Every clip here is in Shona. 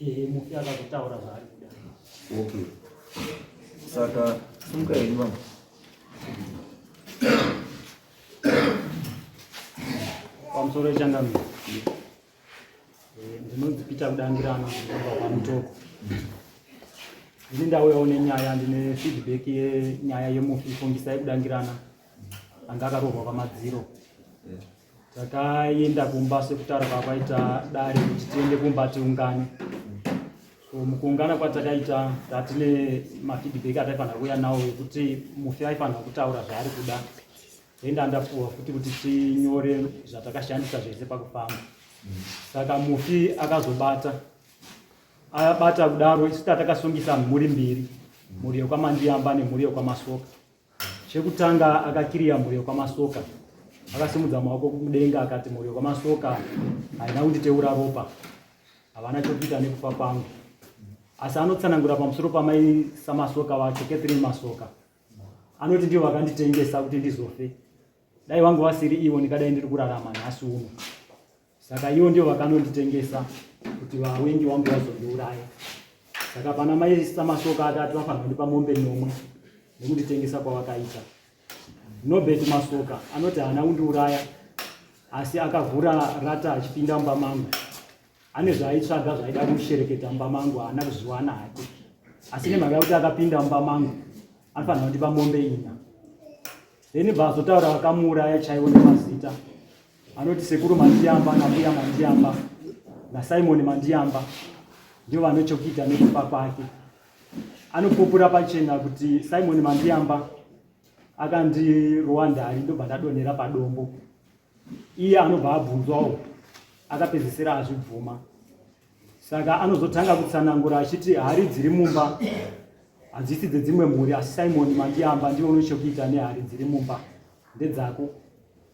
Ehe, mufi akazotaura zvaari kuda. Okay. Saka simuka henyu mama. Pamusoro wechangamire. Eh, Ndinonzi Peter Kudangirana kubva kwaMutoko. Ndini ndauyawo nenyaya ndine feedback yenyaya yemufi Fungisai Kudangirana anga akarohwa pamadziro. takaenda kumba sekutaura kwakaita dare kuti tiende kumba tiungane so mukuungana kwatakaita tatine mafeedback ataifanira kuuya nawo ekuti mufi aifanira kutaura zvaari kuda enda ndapuwa futi kuti tinyore zvatakashandisa zvese pakufamba saka mufi akazobata abata kudaro isu tatakasungisa mhuri mbiri mhuri yokwamandiyamba nemhuri yokwamasoka Chekutanga akakiriya mhuri yokwamasoka. Akasimudza maoko kudenga akati, Mhuri yokwamasoka haina kunditeura ropa, havana chokuita nekufa kwangu. Asi anotsanangura pamusoro pamai samasoka vacho, Catherine Masoka. Anoti ndivo vakanditengesa kuti ndizofe. Dai vangu vasiri ivo, ndingadai ndiri kurarama nhasi uno. Saka iwo ndio vakanonditengesa kuti vawengi wangu vazondiuraya. Saka pana mai Samasoka atatu vafanira kundipa mombe nomwe nekunditengesa kwavakaita. Nobert Masoka anoti haana kundiuraya asi akavhura rata achipinda mumba mangu. Ane zvaaitsvaga zvaida kushereketa mumba mangu haana kuzviwana hake. Asi nemhaka yekuti akapinda mumba mangu anofanira kundipa mombe ina. Then bva azotaura vakamuuraya chaivo nemazita. Anoti sekuru Mandiyamba nambuya Mandiyamba naSimon Mandiyamba ndivo vane chokuita nekufa kwake. Anopupura pachena kuti Simon Mandiyamba akandirowa ndari ndobva ndadonhera padombo. Iye anobva abvunzwawo akapedzisira azvibvuma. Saka anozotanga kutsanangura achiti hari dziri mumba hadzisi dzedzimwe mhuri asi Simon Mandiyamba ndivo une chokuita nehari dziri mumba ndedzako.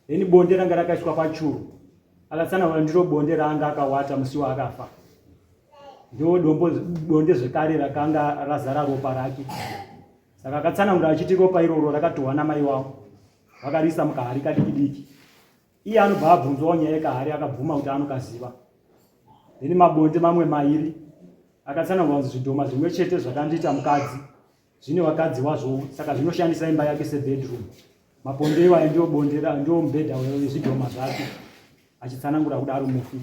Ini bonde ranga rakaitwa pachuru akatsanangura ndiro bonde raanga akawata musi waakafa ndiwo dombo bonde zvekare rakanga razara ropa rake saka akatsanangura achiti ropa iroro rakatohwa namai wavo vakariisa mukahari kadiki diki iye anobva abvunzwawo nyaya yekahari akabvuma kuti anokaziva ini mabonde mamwe mairi akatsanangura kuti zvidhoma zvimwe chete zvakandiita mukadzi zvine vakadzi wazvo saka zvinoshandisa imba yake sebedroom maponde iwayo ndio bonde ndio mubhedha wezvidhoma zvake achitsanangura kudaro mufi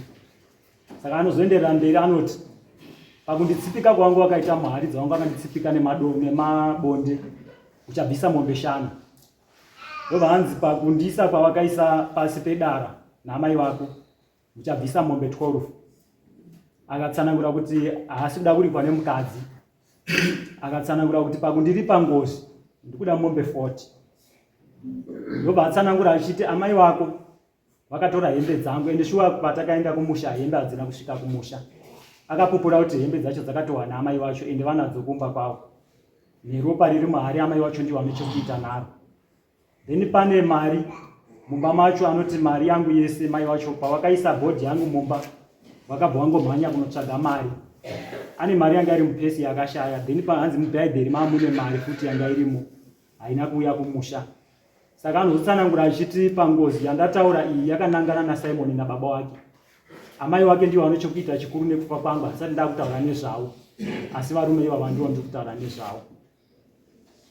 saka anozoenderera mberi anoti pakunditsipika kwangu wakaita muharidzi wangu akanditsipika nemabonde uchabvisa mombe shanu ndobva hanzi pakundiisa kwavakaisa pasi pedara naamai vako uchabvisa mombe 12 akatsanangura kuti haasi kuda kuripwa nemukadzi akatsanangura kuti pakundiripa ngozi ndikuda mombe 40 ndobva atsanangura achiti amai wako vakatora hembe dzangu ende shuwa patakaenda kumusha hembe hadzina kusvika kumusha akapupura kuti hembe dzacho dzakatohwana amai vacho ende vanadzo kumba kwavo neropa riri mahari amai wacho ndiwane chokuita naro then pane mari mumba macho anoti mari yangu yese mai wacho pavakaisa bhodhi yangu mumba vakabva vangomhanya kunotsvaga mari ane mari yanga iri mupesi yakashaya then pahanzi mubhaibheri mamune mari futi yanga irimo haina kuuya kumusha saka anozotsanangura achiti pangozi yandataura iyi yakanangana nasimoni nababa wake amai wake ndivo vane chokuita chikuru nekufa kwangu handisati ndakutaura nezvavo asi varume ivava ndivo ndiri kutaura nezvavo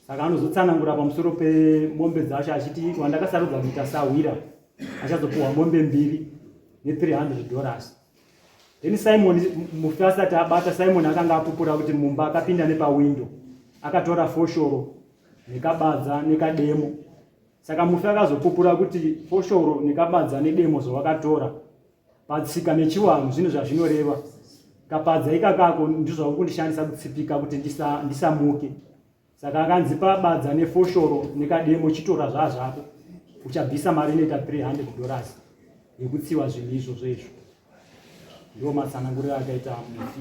saka anozotsanangura pamusoro pemombe dzacho achiti wandakasarudza kuita sahwira achazopuhwa mombe mbiri ne300 dollars then simon mufi asati abata simon akanga apupura kuti mumba akapinda nepawindo akatora foshoro nekabadza nekademo saka mufi akazopupura kuti foshoro nekabadza nedemo zvawakatora Patsika nechiwanhu zvinhu zvazvinoreva kapadza ikakako ndizvo vakukundishandisa kutsipika kuti ndisamuke ndisa saka akanzi pabadza nefoshoro nekademo chitora zvazvako uchabvisa mari inoita 300 dollars yekutsiwa zvinhu izvozvo izvo ndo matsananguriro akaita mufi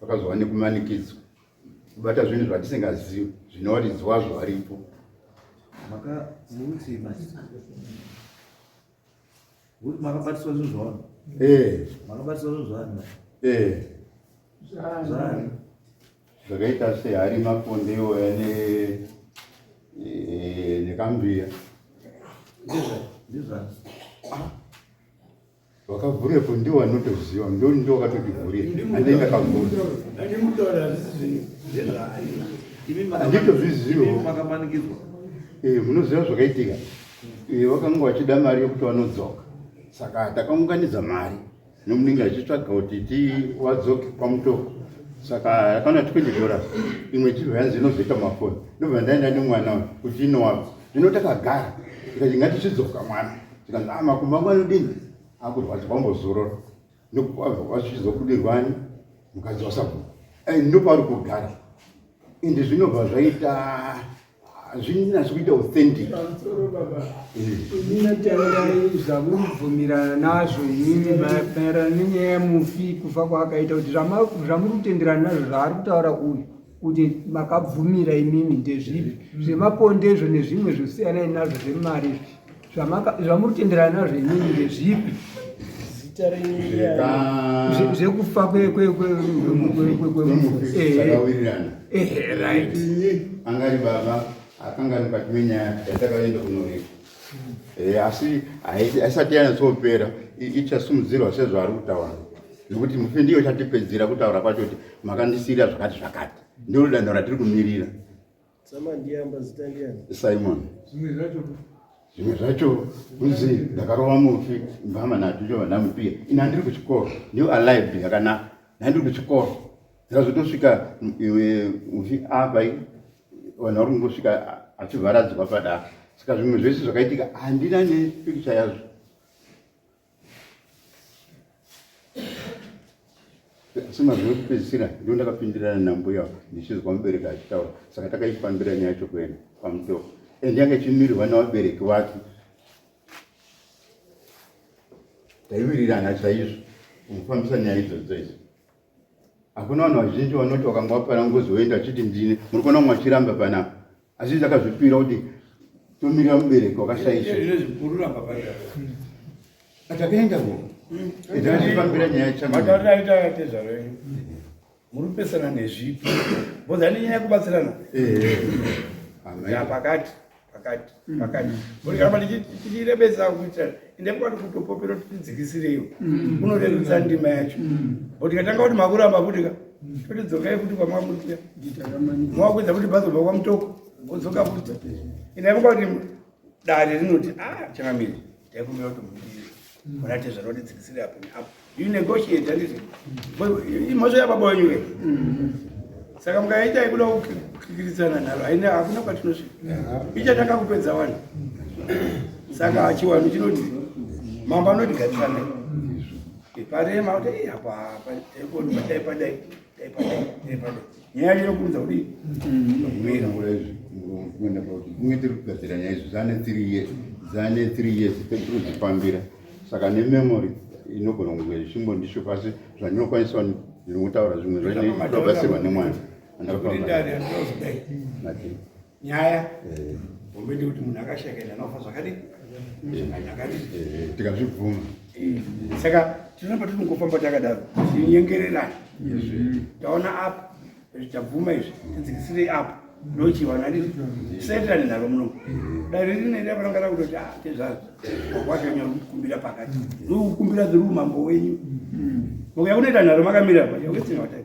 Vakazova nekumanikidzwa kubata zvinhu zvatisingazivi zvine waridzi wazvo varipo. Makabatiswa zvinhu zvavanhu? Eh. Makabatiswa zvinhu zvavanhu? Eh. Zvani? Zvakaita sehari maponde iwoya ne eh, nekambiya. Ndizvani? Ndizvani? Wakavhurepo ndiwo anotoziva ndoni ndiwo wakatodivhurira handei ndakavhura handitozvizivo eh, munoziva zvakaitika eh, vakanga vachida mari yekuti vanodzoka saka takaunganidza mari nomunenge achitsvaga kuti ti wadzoke pamutoko saka yakana tikuti dora imwe chibva yanzi inozoita mafoni ndobva ndaenda nemwana kuti inowako zvino takagara tikati ngatichidzoka mwana zvikanzi ah, makumbo angu anodini akurwadza kwambozorora nekuvachizobudirwani mukadzi wasabhuku eh, ndopauri kugara ende zvinobva zvaita zvinasi kuita authentic inini tairai zvamuribvumirana nazvo inini maererano nenyaya yemufi kufa kwaakaita kuti zvamuri kutenderana nazvo zvaari kutaura uyu kuti makabvumira imimi ndezvipi zvemaponde izvo nezvimwe zvosiyanai nazvo zvemari zvamuri tenderana nazvo imimi ndezvipi zvekufa kwekwemufueehe right angari baba akanga ari mukati menyaya yatakaenda kunoreko Eh, asi haisati yanyatsopera ichasumudzirwa sezvaari kutaura nekuti mufi ndiyo chatipedzera kutaura kwacho kuti makandisiira zvakati zvakati ndiro danho ratiri kumirira simon zvimwe zvacho kunzi ndakarova mufi mbama nacho icho vandamupiya ini handiri kuchikoro new alive yakanaka nhandiri kuchikoro zvazotosvika uchi apa vanhu vari kungosvika achivharadzwa padaro saka zvimwe zvese zvakaitika handina nepikicha yazvo asi mazuva ekupedzisira ndo ndakapindirana nambuya ndichinzwa mubereki achitaura saka takaifambira nyaya yacho kuenda pamutoko and yanga ichimirirwa navabereki vake taiwirirana chaizvo mufambisa nyaya idzo dzoidzo Hakuna vanhu vazhinji vanoti vakanga vapara ngozi voenda achiti ndine muri kuona mumwe achiramba panapa asi izi akazvipira kuti tomirira mubereki wakashaisha atakaenda ko itaachifambira nyaya chamaaitayatezvaro yenyu muri kupesana nezvipi bozani nyaya yekubatsirana eh, eh. yapakati pakati mm. pakati ndikaramba ndichirebedza kuita ende kwati kutopopera kuti tidzikisireiwo mm. unorerutsa ndima yacho mm. but tikatanga kuti makuramba kutika totidzokai kuti kwamwakutia mwakuedza kuti bazobva kwamutoko odzoka kuti inaimuka kuti dare rinoti a ah, changamiri taikumbira kuti mudii murate zvanoti dzikisire apo neapo You negotiate handiti? Imhosva yababa wenyu here? Saka mukaita yekuda kukikiridzana nharo haina hakuna kwatinosvika. Ichatanga kupedza wani. Saka hachiwani chinoti mambo anoti gatisana. Iparema kuti hapa hapa epo ndipo dai padai. nyaya inokuudza kuti mira izvi kuenda pauti kunge tiri kugadzira nyaya izvi zane three years zane three years tiri kuzvifambira saka nememory inogona kunge zvishimbo ndisho pasi zvandinokwanisa ndinokutaura zvimwe zvainobasirwa nemwana andakutaura nyaya eh. hombe ndekuti munhu akashakaina anofa zvakadii tikazvibvuma saka tinoramba tiri mukufamba takadaro tinyengererana taona apa tabvuma izvi tidzikisirei apa ndochivana riri setirani naro muno dai riri nenda pananga rakutoti a tezvaro wakwashanya kukumbira pakati rikukumbira ziri umambo wenyu mukuya kunoita nharo makamira pa yawetsinga watai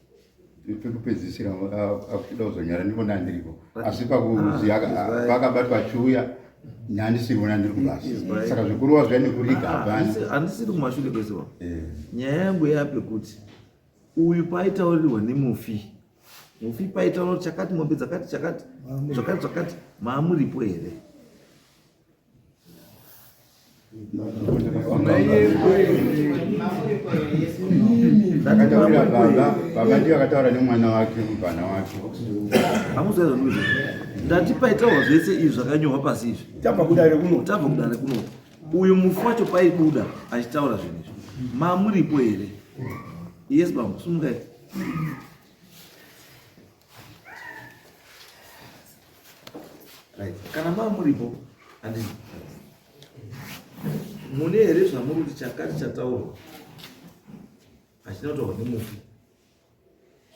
pekupedzisira akuchida kuzonyara ndivona andiripo asi pakuziva pakabatwa achiuya nandisirivona ndiri kubasa saka zvekurova zviya nekuriga ah, hapana handisiri kumashure kwese wa eh. nyaya yangu yape kuti uyu paitaurirwa nemufi mufi paitaura kuti chakati mombe dzakati chakati zvakati zvakati maamuripo here ndakataurira baba baba ndiyo akataura nemwana wake mubvana wake hamuzazanuzve ndati paitaurwa zvese izvi zvakanyorwa pasi izvi tabva kudare kuno tabva kudare kuno uyu mufu wacho paibuda achitaura zvinhu izvi mamuripo here yes bambo sumukai Right. Kana maa muripo andi mune here zvamuri kuti chakati chataurwa hachina kutaurwa nemufi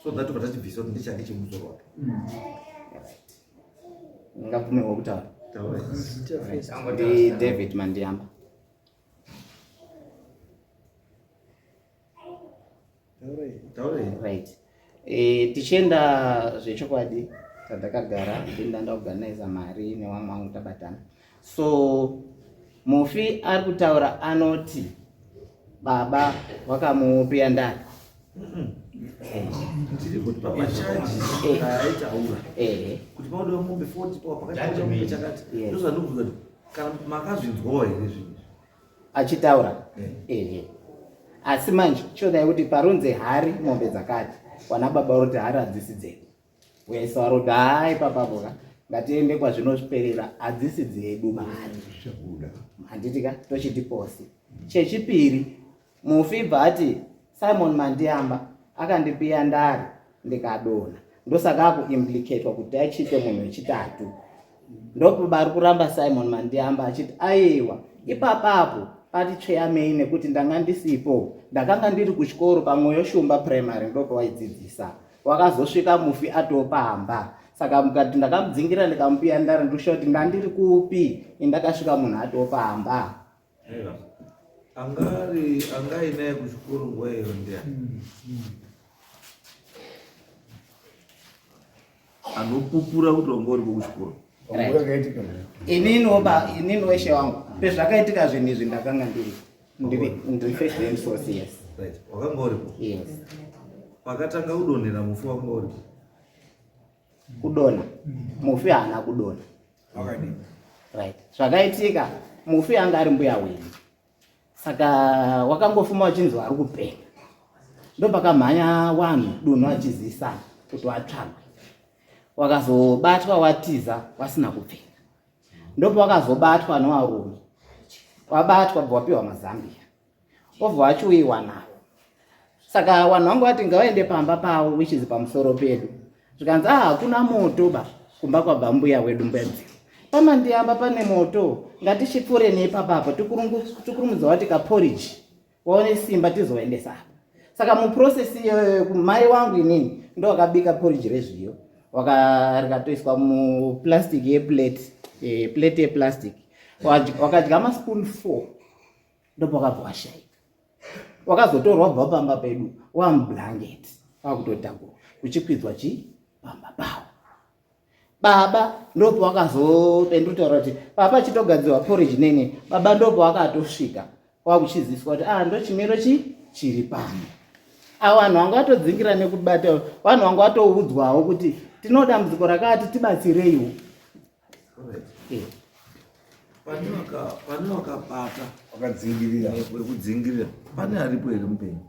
so that vatachibvisa kuti ndechake chemusoro wake mm. ngabvumirwa kutaura David Mandiyamba. right e, tichienda zvechokwadi tadakagara ndinda ndaorganiza mari newamwe wangu tabatana so mufi ari kutaura anoti baba vakamupiya ndani ndiri kuti pamachaji aitaura kuti pauda mombe foti pawapakati chakati ndozvanobvunza kana makazvinzwawo here zvinhu achitaura ehe asi manje chodai kuti parunze hari mombe dzakati wana baba roti hari hadzisi dzedu wese waroti hai papaboka ngatiende kwazvinosperera hadzisi dzedu mari handiti ka tochiti posi chechipiri Mufi bva ati Simon Mandiyamba akandipiya ndari ndikadona ndosaka akuimplicatwa kuti achiite munhu wechitatu ndokuba ari kuramba Simon Mandiyamba achiti aiwa ipapapo pati tsveyamei nekuti ndanga ndisipo ndakanga ndiri kuchikoro pamwoyo shumba primary ndopawaidzidzisa wakazosvika mufi atopamba saka mukati ndakamudzingira ndikamupiya ndari ndoshuwa kuti ndandiri kupi indakasvika munhu atopamba Angari angainaye kuchikoro nguva iyo ndiya hmm, hmm. anopupura kuti wanga uripo kuchikoro inini weshe wangu pezvakaitika zvinhu izvi ndakanga ndiri ndiri first and fourth years wakanga uripo yes pakatanga kudonhera mufi wanga uripo kudona mufi haana kudona wakadii right zvakaitika mufi anga ari mbuya wenyu saka wakangofuma wachinzwa ari kupenga ndopakamhanya wanhu dunhu achizisa kuti watsvagwe wakazobatwa watiza wasina kupfeka ndopawakazobatwa nowarume wabatwa bva wapiwa mazambia obva achiuyiwana saka vanhu vangu vati ngavaende pamba pavo which is pamusoro pedu zvikanzi a ah, hakuna moto ba kumba kwabva mbuya wedu mbuya dzivo pamandiyamba pane moto ngatichipfuure neipapapa tikurumudza wati kaporiji waone simba tizoendesa apa saka muprocess iyoyo mai wangu inini ndo wakabika poriji rezviyo rikatoiswa muplastic yeplate eh, plate yeplastic wakadya maspoon four ndopakabva washaika wakazotorwa bva pamba pedu wamublanket kwakutotakura kuchikwidzwa chi pamba pawo baba ndopo wakazopendutaura kuti papa chitogadzirwa porridge nene baba ndopo wakatosvika kwakuchiziswa kuti ah ndochimiro chi chiri pano a vanhu vanga vatodzingira nekubata vanhu vanga vatoudzwawo kuti tinodambudziko rakati tibatsireiwo pane wakabata wakadzingirira wekudzingirira pane aripo here mupenyu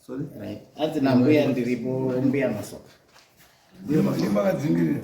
sorry hanzi nambuya ndiripo mbuya masoka mbuya masoka vakadzingirira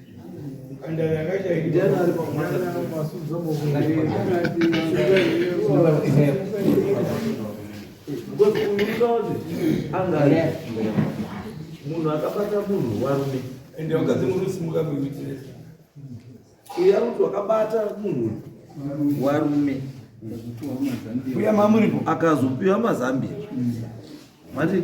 munhu akabata munhu warume ende vakadzi muri kusimuka kuitire uya kuti wakabata munhu warume uya mamuripo akazopiwa mazambia mati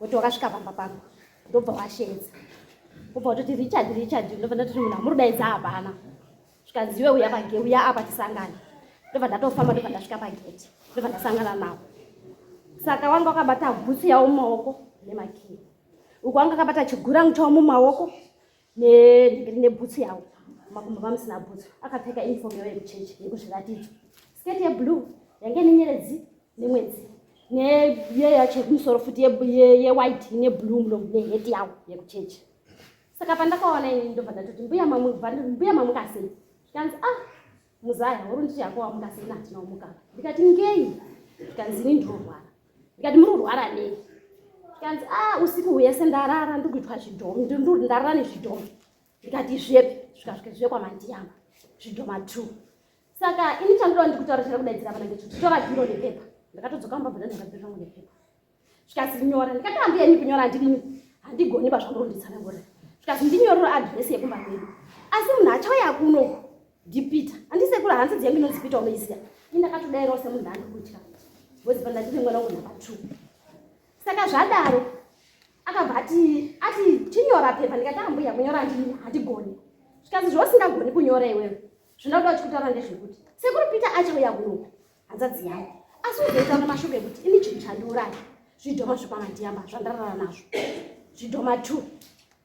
woti wakasvika pamba pako ndobva washeedza ubva watoti richard richard ndobva ndatoti munhu amurudaidza hapana zvikanziwe uya page uya apa tisangane ndobva ndatofamba ndobva ndasvika pageti ndobva ndasangana navo saka wanga wakabata bhutsu yavo mumaoko nemakii uku wanga akabata chigurangu chavo mumaoko nebhutsu yawo makumbo vamusina bhutsu akapfeka uniform yawo yekuchechi yekuzviratidzo sketi yeblue yange nenyeredzi nemwedzi neye yacho yekumusoro futi yewhite ine blue mulomu neheti yawo yekuchechi saka pandakaona ini ndobva ndatoti mbuya mamukasei kanzi ah Muzaya uri nditi hako wamuka sei nati naumuka. Ndikati ngei? Ndikanzi ini ndorwara. Ndikati muri kurwara nei? Ndikanzi ah usiku hwese ndarara ndiri kuitwa zvidhomu ndiri ndarara nezvidhomu. Ndikati zvepi? Zvikasvike zviye kwamandiyamba zvidhoma two. Saka ini chandoda ndikutaura chakudaidzira vana ngechokutora bhiro nepepa. Ndakatodzoka mubabhura ndakabhira zvangu nepepa. zvikazi nyora ndikati handiya ini kunyora handimuni handigoni pazvamuronditsana ngora zvikazi ndinyorero adhiresi yekumba kwedu asi munhu achauya kunoku ndipita handisekura hanzi dziya ndinonzi pita unoiziya ini ndakatodairawo semunhu andikutya bcoz pa ndandine mwana wangu number two saka zvadaro akabva ati ati tinyora pepa ndikati ambuya kunyora handini handigoni zvikazi zvausingagoni kunyora iwewe zvinoda kuti uchikutaura ndezvekuti sekuru pita achauya kunoku hanzadzi yangu asi uzoita mashoko ekuti ini chinhu chandiuraya zvidhoma zvekwamandiyamba zvandarara nazvo zvidhoma two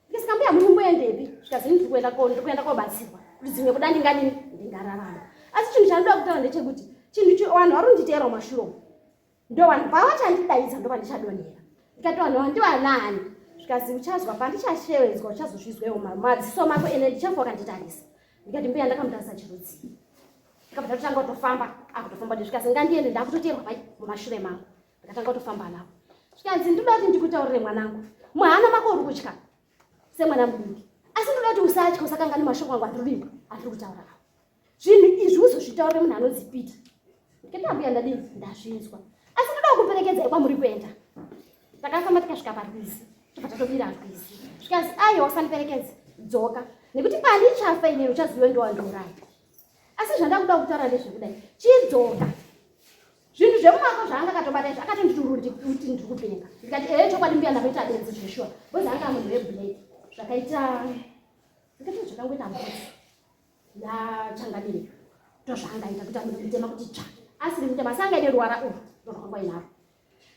ndisikambuya muri kumboendepi zvikazi ndiri kuenda ko ndiri kuenda kobatsirwa kuti dzimwe kuda ndinganini ndingararama asi chinhu chandoda kutaura ndechekuti chinhu vanhu vari kunditeerwa mashuro ndo vanhu pavachandidaidza ndo vandichadonhera ndikati vanhu ava ndivanaani zvikazi uchazwa pandichashevedzwa uchazozvizwewo madziso mako ene ndichafa wakanditarisa ndikati mbuya ndakamutarisa chirudzii ndikabva ndatotanga kutofamba akutofamba ndisvika sengandiende ndakutoteerwa pai mumashure mangu ndakatanga kutofamba navo zvikanzi ndinoda kuti ndikutaurire mwanangu muhana mako uri kutya semwana muduki asi ndinoda kuti usatya usakangani mashoko angu andiri kuimba andiri kutaura avo zvinhu izvi uzozvitaurire munhu anonzi pita ndikambuya ndadii ndazvinzwa asi ndoda kuperekedzai kwamuri kuenda takafamba tikasvika parwizi tobva tatobira rwizi zvikanzi aiwa usandiperekedze dzoka nekuti pandichafa inini uchaziva ndiwandiuraya asi zvandakuda kutaura ndezvekudai chidzoka zvinhu zvemumako zvaanga akatobata izvo akatonditururti kuti ndiri kupenga ndikati ee chokwadi mbuya ndakaita benzi zveshuwa bozi anga munhu weblake zvakaita ndikati zvakangoita mbuzi yachangamire ndozvaangaita kuti amutema kuti tsva asiri mutema asi angaine ruvara uru ndorwakangoinaro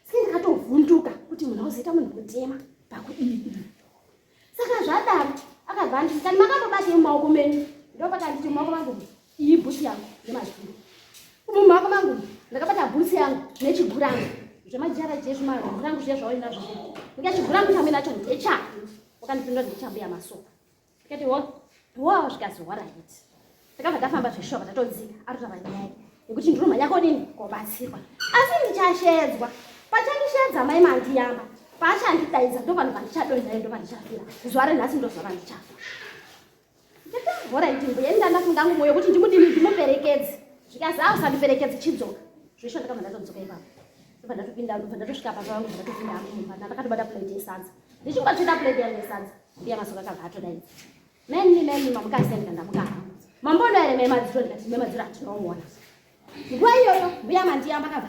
saka ndakatovhunduka kuti munhu auzoita munhu kutema pakudii saka zvadaro akabva anditi kani makambobata mumaoko menyu ndopakanditi mumaoko mangu iyi bhusi yangu nemazvuru umu mumaoko mangu ndakabata bhusi yangu nechigurangu zvemajara jezvimazvurangu zviya zvawainazvo ndikachigurangu chamwe nacho ndechako wakandipindura ndichambuya masoka tikati wo wo zvikazi waraiti takabva tafamba zveshoka tatodzika arotava nyaya yekuti ndinomhanya kodini kobatsirwa asi ndichashedzwa pachandishedza mai mandiyamba paachandidaidza ndo vanhu vandichadonzayo ndo vandichafira zuva renhasi ndozuva vandichafa horaiti mbuya ndandafunga ngumo yokuti ndimudini ndimuperekedzi zvikazi a usandiperekedzi chidzoka zvesho ndakabva ndatodzoka ipapo ndobva ndatopinda ndobva ndatosvika papa vangu ndatopinda amumba ndakatobata plate yesadza ndichingotsvita plate yangu yesadza Mbuya Masoka akabva atodaidza. Meni meni mamuka asenda ndamuka hangu. Mamboona here mema dziro ndikati mema dziro hatinomuona. Nguva iyoyo mbuya Mandiyamba akabva